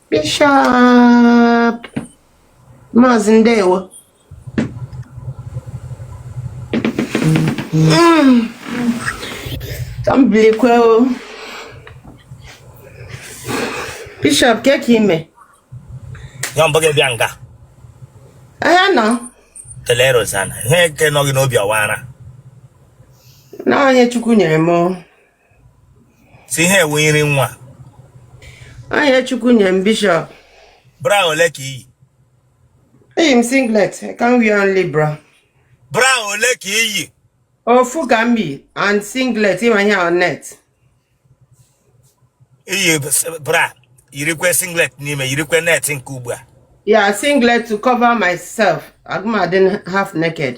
Bishop Maazị Ndewo mm. ka m bilikwe o Bishop kee ka i me ya mbụ gị bịa nga ahịa nọ kelee Rosanna ihe nke nọ gị n'obi ọ wụ ara na ọ ihe Chukwu nyere m sị ihe a wụ nri nwa ọ ihe Chukwu nyere m Bishop bra ole ka i yi eyi m singlet I can't wear only bra bra ole ka i yi ofu ka m yi and singlet ịma ihe on net i yi bra yirikwe singlet n'ime yirikwe net nke ugbu a ya singlet to cover myself agaghị m adị half naked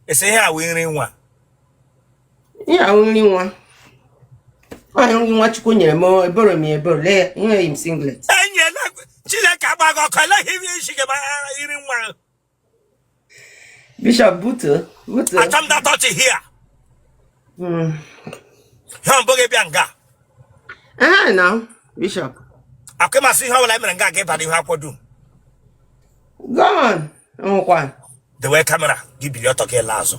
a sị ihe a wụ nri nwa ihe a wụ nri nwa ọ nri nwa Chukwu nyere m eboro m eboro lee enweghị m singlet enyela Chineke agba gị ọkụ eleghị ihe isi gị nri nwa Bishop butu butu. Acham da touch here. Hmm. Ya mbụ gị bịa nga. Eh na Bishop. Aka m asị ihe ọbụla mere nga ga ịbara ihe akwọ dum. Go on. Nwụkwa. Dewe kamera gị bilie ọtọ gị laa azụ.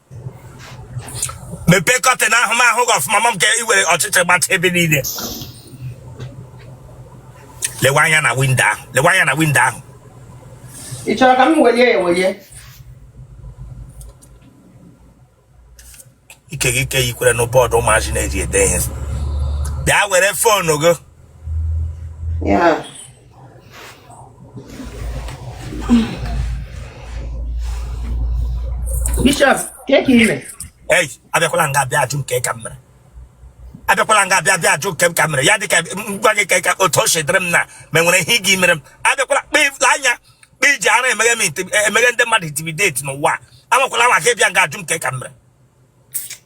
mepee curtain ahụ m ahụ gị ọfụma maka i were ọchịchị gbacha ebe niile lewe anya na window ahụ lewe anya na window ahụ ị chọrọ ka m welie ya ewelie ike gị ike yikwere na board ụmụazị na-eji ede ihe bịa were phone gị ya Bishop, kee ka i me. Ei, abịakwala nga bịa jụ m kee ka m mere. abịakwala nga bịa jụ m kee ka m mere ya dịka ngwa gị ka otu o si dịrị m na ma nwere ihe gị mere m abịakwala kpefula anya kpe i ji ara emeghe ndị mmadụ intimidate n'ụwa anwakwala anwa ka ị bịa nga jụ m kee ka m mere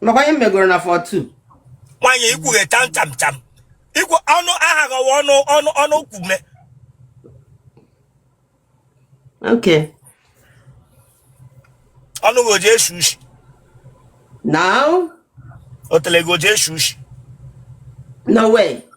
nakwa ihe megoro na 42 nwanyị ikwughe tam tam tam ikwu ọnụ aha gọwa ọnụ ọnụ ọnụ kwume okay ọnụ gị ọ ji esi ushi now otele gị ọ ji esi ushi no way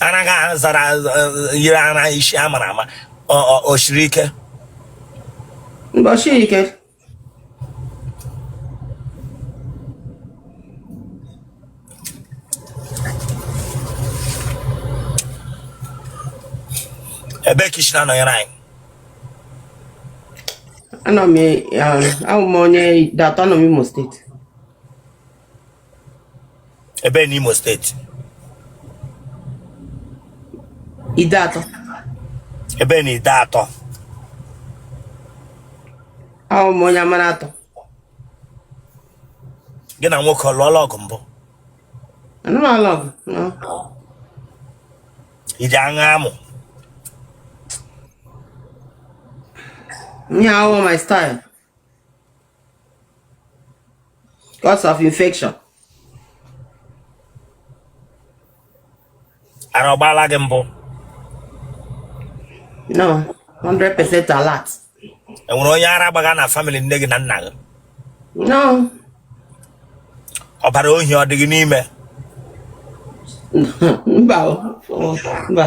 anaghị ahụ zara yiri ara isi a mara ama o siri ike o siri ike ebe ka i si na-anọnyere anyị anọ m ahụ m onye Ideatọ nọ n'Imo steeti ebe n'Imo steeti Ideatọ ebe n'Ideatọ ahụ m onye Amanatọ gị na nwoke alụọla ọgụ mbụ anụrụ ala ọgụ no. ị ji aṅa amụ ihe ahụhụ my style cause of infection ara ọ gbaala gị mbụ no 100% alert enwere onye ara gbaga na family nne gị na nna gị no ọbara ohi ọ dị gị n'ime mba mba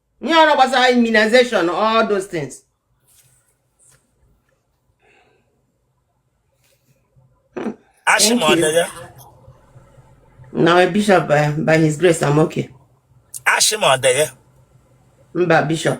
ihe ọrụ gbasara immunization all those things na bishop by, by his grace I'm okay Ashị ma ọ dị ya. mba bishop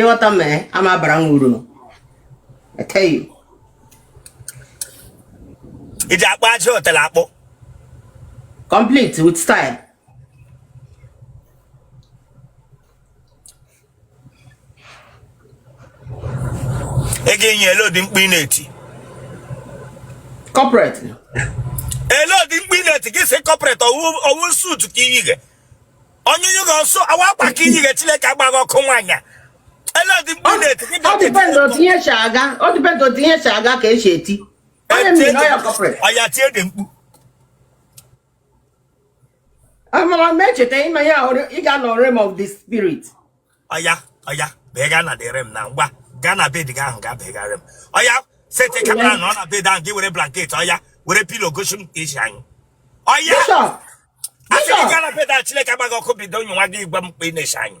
ịghọta m eh, ama abara m uru ị ji akpụ ajị otele akpụ complete with style ị ga-enye elee ụdị mkpu ị na-eti corporate elee ụdị mkpu ị na-eti gị sị corporate ọ wụ suit ka i yiga onye nyụrụ ọsọ ọ wụ akwa ka i yiga chileke agba gị ọkụ nwaanyị elee ụdị mkpu ọ depend otu e shi aga ka e shi eti amara m echeta ịma ya ị ga-anọ realm of the spirit ọya ọya bega na dere m na ngwa gaa na bed gị ahụ gaa begara m ọya sete kamera nọ na bed ahụ gaa were blanket ọya were pilo gosi m ka i si anyị ọya Bishop, asị gị gaa na bed ahụ chileke agba gị ọkụ bido onye nwa gị gwa m kpa ị na-esi anyị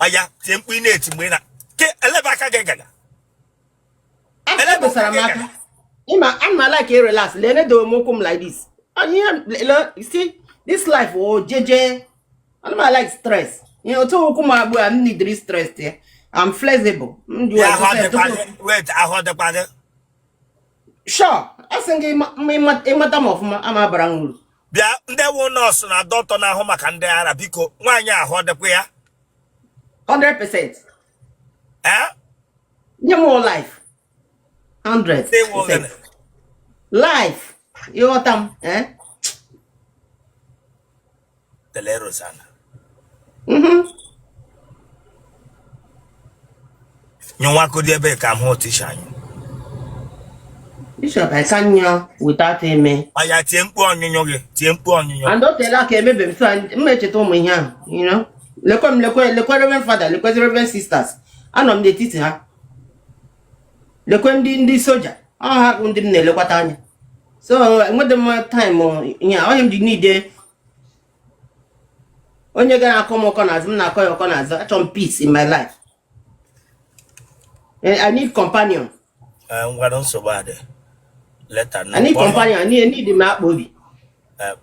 ọya tie mkpu ị na-eti mgbe ị na ke elebe aka gị gaga ebesara m aka ịma ana m alike e relax lene do m ụkwụ m like this and you see this life o oh, jeje ana m alike stress ihe otu ụkwụ m agbụ a m nidiri stress ya I'm flexible. Wait, ahụ dịkwa gị. Sure, as in ị mata m ọfụma ama bara m uru. bịa ndị wụ nọọsụ na doctor na-ahụ maka ndị ara biko nwaanyị a ahụ ọ dịkwa ya 100% ee nye m life 100% life ịghọta m eh? tele Rosanna mhm. nyụwakodi ebe ka m hụ tisha anyị Bishop, I can't kneel without amen. ọya tie mkpu ọṅụ gị tie mkpu ọṅụ And don't tell her maybe so and mmecheta ụmụ ihe ahụ, you know. Lekwe m lekwe lekwe Reverend Father, lekwe Reverend Sisters. Anọ m n'etiti ha. Lekwe ndị ndị soja, ọ ha bụ ndị m na-elekwata anya. So enwedị m time ihe a, ọ ya m ji need onye ga na-akọ m ọkọ n'azụ m na-akọ ya ọkọ n'azụ achọ m peace in my life eh, I need companion eh, ngwanụ nsogbu adị later I need companion I need need m akpa obi eh,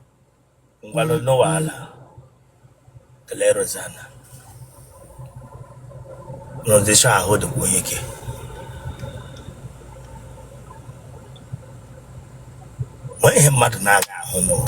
ngwanụ nọwa ala kelee Rosanna n'ụdịcha ahụ dịkwa onye ike nwee ihe mmadụ na-aga ahụ n'ụwa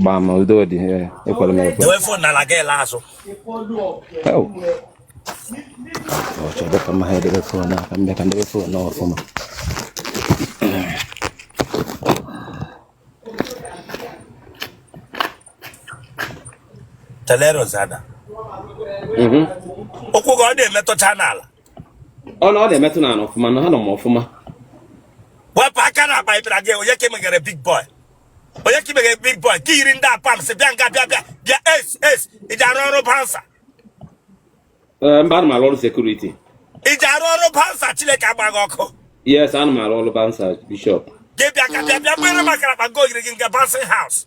gbaa ma udo dị ekwere m ekwe ọchọdọ ka mma ha edebe fon aka m bịa ka m debe fon ọfụma telere ozada mhm. ụkwụ gị ọ na-emetụcha n'ala ọ na ọ na-emetụ n'ala ọfụma na ha nọ m ọfụma wepụ aka n'akpa ịbịara gị onye ka i meghere big boy onye ka i meghe big boy ka yiri ndị a pams bịa nga bịa bịa bịa es es ị ji arụ ọrụ bouncer eh, mba ana m arụ ọrụ security ị ji arụ ọrụ bouncer Chineke agba gị ọkụ yes ana m arụ ọrụ bouncer bishọp gị bịa ka bịa bịa gbere maka akpa nke ogiri gị nke bouncing house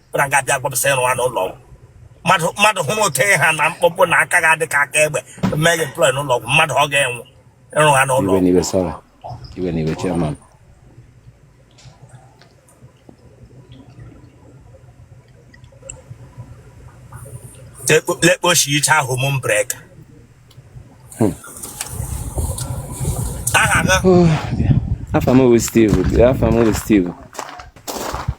na nga abịa gwapụsa ịrụ ha n'ụlọ ọgwụ mmadụ mmadụ hụrụ otu ha na mkpọkpọ na aka ga-adị ka aka egbe meghị employ n'ụlọ ọgwụ mmadụ ọ ga-enwụ ịrụ ha n'ụlọ ọgwụ lekpochi iche home breaker aha gị afa m bụ Steve afa m bụ Steve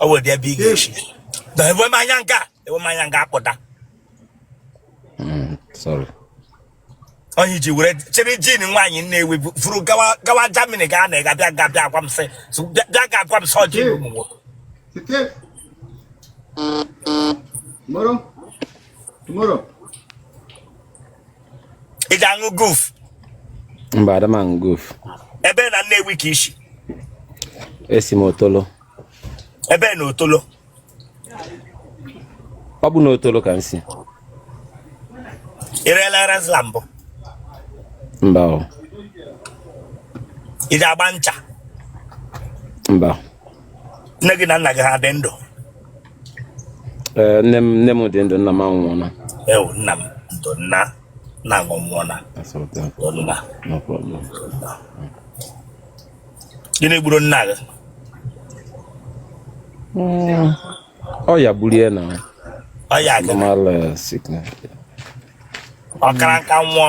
ọ wee bịa big ishi lewe m anya nga lewe m anya nga akpụtara onye ji were chịrị jean nwaanyị Nnewi furu gawa Jamini ga na ga bịa ga bịa agwa m sị bịa ga agwa m sị ọ ji ụmụ nwoke Tomorrow? Tomorrow? ị ji aṅụ guf mba ada m aṅụ guf ebe na Nnewi ka i shi esi m otolo ebe na otolo ọ bụ na otolo ka m si ị reela rizla mbụ mba o ị ji agba ncha mba nne gị na nna gị ha dị ndụ Eh, nne m nne m dị ndụ nna m anwụọla ewu nna m ndo nna nna m nwụọla ndo nna gịnị gburu nna gị hmm. ọya gburu ya na ọya normal eh, sickness ọ kara nka nwụọ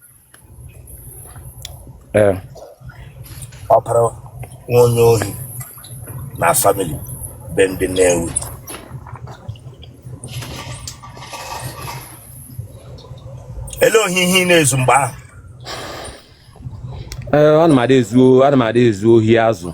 ee ọ kara nwe onye ohi na famili be ndị na-ewu ele ohi ihe ị na-ezu mgbe ahụ ee ana m ada ezu ana m ada ezu ohi azụ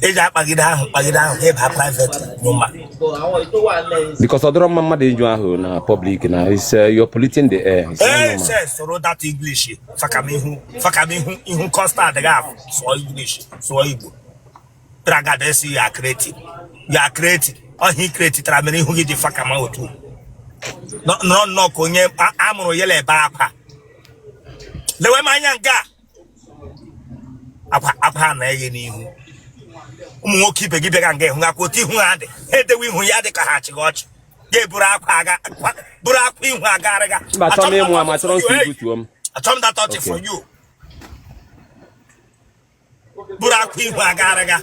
eji akpagide ahụ kpagide ahụ ebe ha private nyụma because ọ dịrọ mma mmadụ ịnyụ ahụ na public na is uh, you're polluting the air ee se sụrụ that english fakamihu fakamihu ihu custard gị ahụ sụọ english sụọ igbo tragada sị you are creative you are creative ọ ihe ị createtara mere ihu gị dị fakama otu nọ nnọọ ka onye a mụrụ yela ebe akwa lewe m anya nga akwa na eghe n'ihu ụmụ nwoke ibe gị bịara nga ị hụkwa otu ihu ha dị ha edewe ihu ya dị ka ha chịga ọchị ga-eburu akwa aga buru akwa ihu agarị ga achọrọ m data ọchị for you buru akwa ihu agarị ga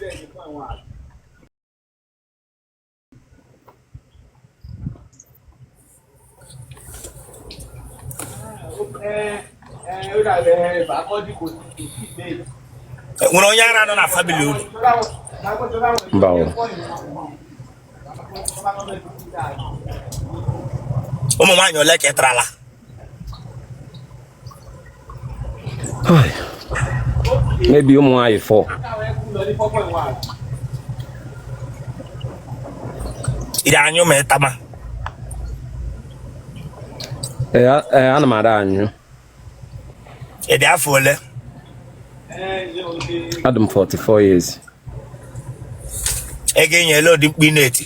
nwere onye ara nọ na famili unu mba o ụmụ nwaanyị ole ka ị tarala maybe ụmụ nwaanyị fọ iri anyụ ma ịtama ee eh, eh, ana m ada anyụ ị dị afọ ole adị m 44 years ego enyela ụdị mkpu ị na-eti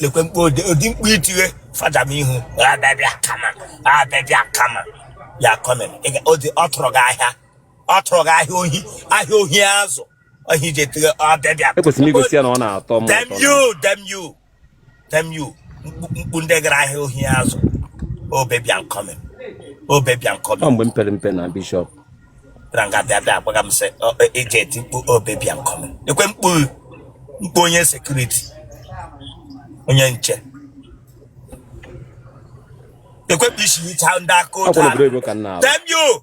lekwe mkpu ụdị mkpu i tighe fada m ihu ah baby I'm coming ah baby I'm coming you're coming ọ tụrụ gị ahịa ọ tụrụ gị ahịa ohi ahịa ohi azụ ohi ji etighe ah baby I'm coming ekwesịrị igosi ya na ọ na-atọ m ụtọ damn you damn you damn you mkpu ndị gara ahịa ohi azụ oh baby I'm coming oh baby I'm coming ọ mgbe m pere mpe na bishọp bịara nga bịa bịa agbaga m sị eji eti mkpu oh baby I'm coming lekwe mkpu mkpu onye sekuriti onye nche ekwepụ isi hicha ndị aka otu a damn you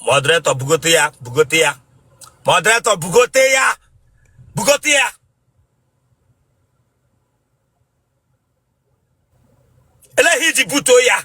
moderator bugote ya bugote ya moderator bugote ya bugote ya eleghị iji butuo ya